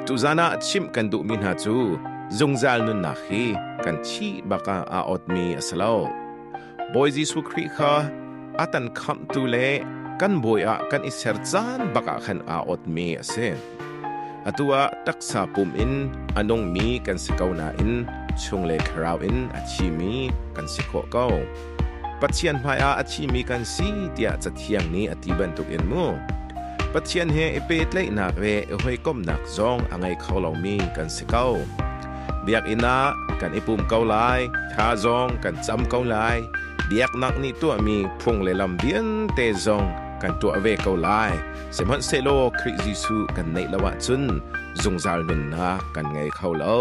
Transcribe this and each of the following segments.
Tuzan ah chimh kan duhmi hna cu zungzal nunnak hi kan thi bak ah aa awtmi a si lo. Bawi Jesuh Khrih kha a tan khamhtu le kan bawi ah kan i ser caan bak ah khan aa awtmi a si. Atu ah taksa pum in a nungmi kan si ko nain chung le thlarau in a thimi kan si khawh ko. Pathian hmaiah a thimi kan si tiah Cathiang nih a ti bantukin mu. Pathian he i pehtlaihnak le i hawikomhnak zong a ngei kho lomi kan si ko. Biakinn ah kan i pum ko lai, tha zong kan cam ko lai, biaknak nih tuahmi phung le lam vialte zong kan tuah ve ko lai. Sihmanhsehlaw Khrih Jesuh kan neih lo ahcun zungzal nunnak kan ngei kho lo.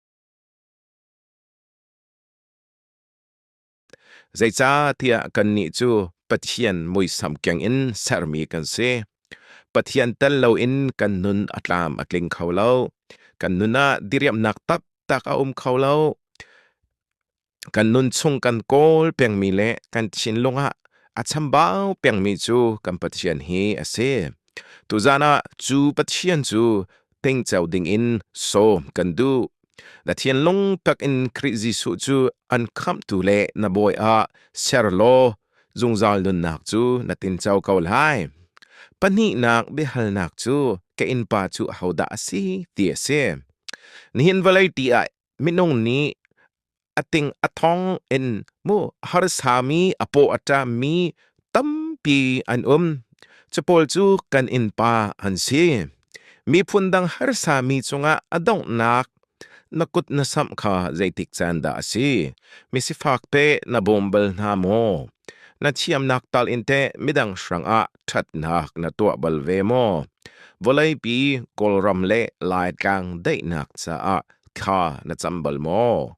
Zeicahtiah kannih cu Pathian muisam kengin sermi kan si. Pathian tel loin kan nun a tlam a tling kho lo. Kan nun ah diriamhnak taktak a um kho lo. kan nunchung kan kawl pengmi le kan thinlung ah a chambau pengmi cu kan Pathian hi a si. Tuzan ah cu Pathian cu tingco dingin sawm kan duh. Na thinlung takin Khrih Jesuh cu an khamtu le na bawi ah ser law zungzal nunnak cu na tinco ko lai. Pahnihnak biahalnak cu ka innpa cu ahodah a si ti a si. Nihin vawlei ti ah minung nih a ting a thong in mu harsami a paw a ṭammi tampi an um. Capawl cu kan innpa an si. Miphun dang harsami cungah a donghnak na kut na samh kha zeitik caan dah a si? Misifak te na bawm bal hna maw? Na thiamnak tal in teh midang hrangah ṭhatnak na tuah bal ve maw? Vawleipi, Kawlram le Laitlang daihnak caah thla na cam bal maw?